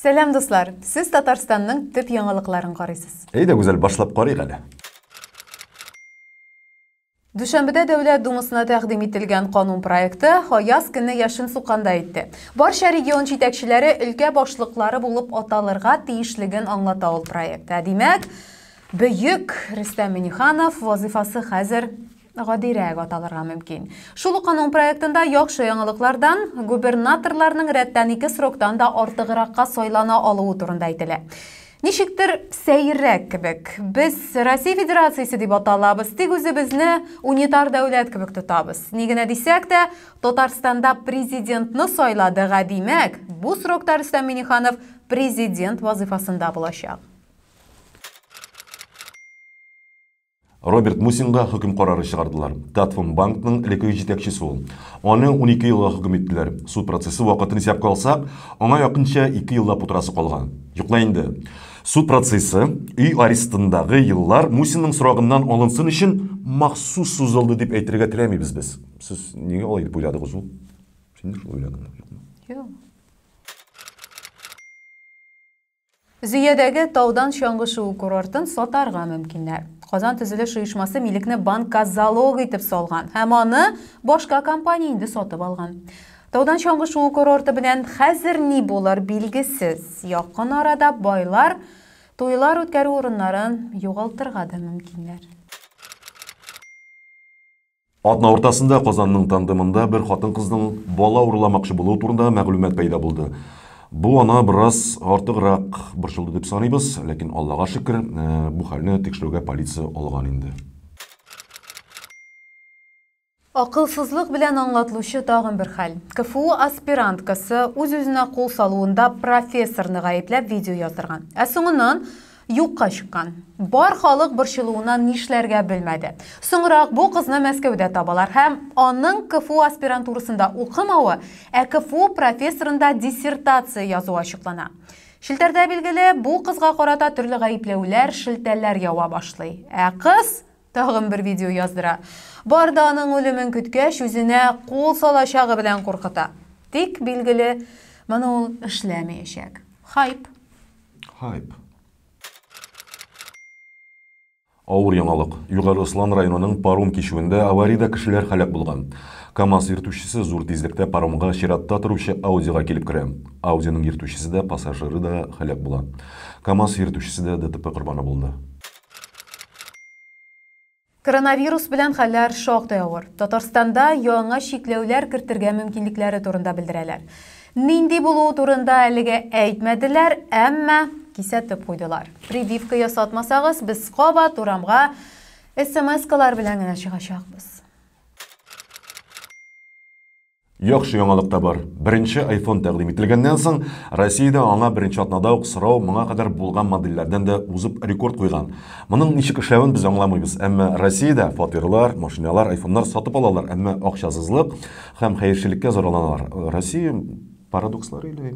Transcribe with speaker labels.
Speaker 1: Сәлам, дуслар! Сез Татарстанның төп яңалыкларын карыйсыз. Әйдә, гүзәл, башлап карыйк әле. Дүшәмбедә Дәүләт Думасына тәкъдим ителгән канун проекты Хаяз көнне яшен сукканда әйтте. Барча регион җитәкчеләре өлкә башлыклары булып аталырга тиешлеген аңлата ул проектта. Димәк, бөек Рөстәм Миниханов вазыйфасы хәзер гадирәк аталырга мөмкин. Шул ук аның проектында яхшы яңалыклардан губернаторларның рәттән ике сроктан да артыгракка сайлана алуы турында әйтелә. Ничектер сәеррәк кебек. Без Россия Федерациясе дип аталабыз, тик үзебезне унитар дәүләт кебек тотабыз. Ни генә дисәк тә, Татарстанда президентны сайладык, ә димәк, бу срокта Рөстәм Миңнеханов президент вазыйфасында булачак. Роберт Мусинга хөкем карары чыгардылар. Татфон банкның элеккеге җитәкчесе ул. Аны унике елга хөкем иттеләр. Суд процессы вакытын исәпкә алсак, аңа якынча ике еллап утырасы калган. Йокла инде. Суд процессы, өй арестындагы еллар Мусинның срогыннан алынсын өчен махсус сузылды дип әйтергә теләмибез без. Сез нигә алай дип уйладыгыз ул? Син дә шулай уйладыңмы? Юкмы? Юк. Зөядәге таудан чаңгы шуу курортын сатарга мөмкиннәр. Казан төзелеш оешмасы милекне банкка залог итеп салган һәм аны башка компания инде сатып алган. Таудан чаңгы шуу курорты белән хәзер ни булыр билгесез. Якын арада байлар туйлар үткәрү урыннарын югалтырга да мөмкиннәр. Атна уртасында Казанның тандемында бер хатын-кызның бала урламакчы булуы турындагы мәгълүмат пәйда булды. Бу ана бераз артыграк борчылды дип саныйбыз, ләкин Аллага шөкер, э, бу хәлне тикшерүгә полиция алган инде. Акылсызлык белән аңлатлучы тагын бер хәл. КФУ аспиранткасы үз-үзенә кул салуында профессорны гаепләп видео яздырган. Ә соңыннан юкка чыккан. Бар халык борчылуыннан нишләргә белмәде. Соңрак бу кызны Мәскәүдә табалар һәм аның КФУ аспирантурасында укымавы, ә КФУ профессорында диссертация язуы ачыклана. Челтәрдә, билгеле, бу кызга карата төрле гаепләүләр, шелтәләр ява башлый. Ә кыз тагын бер видео яздыра. Бар да аның үлемен көткәч, үзенә кул салачагы белән куркыта. Тик, билгеле, моны ул эшләмәячәк. Хайп. Hype. Авыр яңалык. Югары Ослан районының паром кичүендә авариядә кешеләр һәлак булган. КАМАЗ йөртүчесе зур тизлектә паромга чиратта торучы Audi-га килеп керә. Audi-ның йөртүчесе дә, пассажиры да һәлак була. КАМАЗ йөртүчесе дә ДТП корбаны булды. Коронавирус белән хәлләр шактый авыр. Татарстанда яңа чикләүләр кертергә мөмкинлекләре турында белдерәләр. Нинди булуы турында әлегә әйтмәделәр, әмма кисәтеп куйдылар. Прививка ясатмасагыз, без кабат урамга смс-калар белән генә чыгачакбыз. Яхшы яңалык та бар. Беренче iPhone тәкъдим ителгәннән соң, Россиядә аңа беренче атнада ук сорау моңа кадәр булган модельләрдән дә узып рекорд куйган. Моның ничек эшләвен без аңламыйбыз, әмма Россиядә фатирлар, машиналар, айфоннар сатып алалар, әмма акчасызлык һәм хәерчелеккә зарланалар. Россия парадокслары или?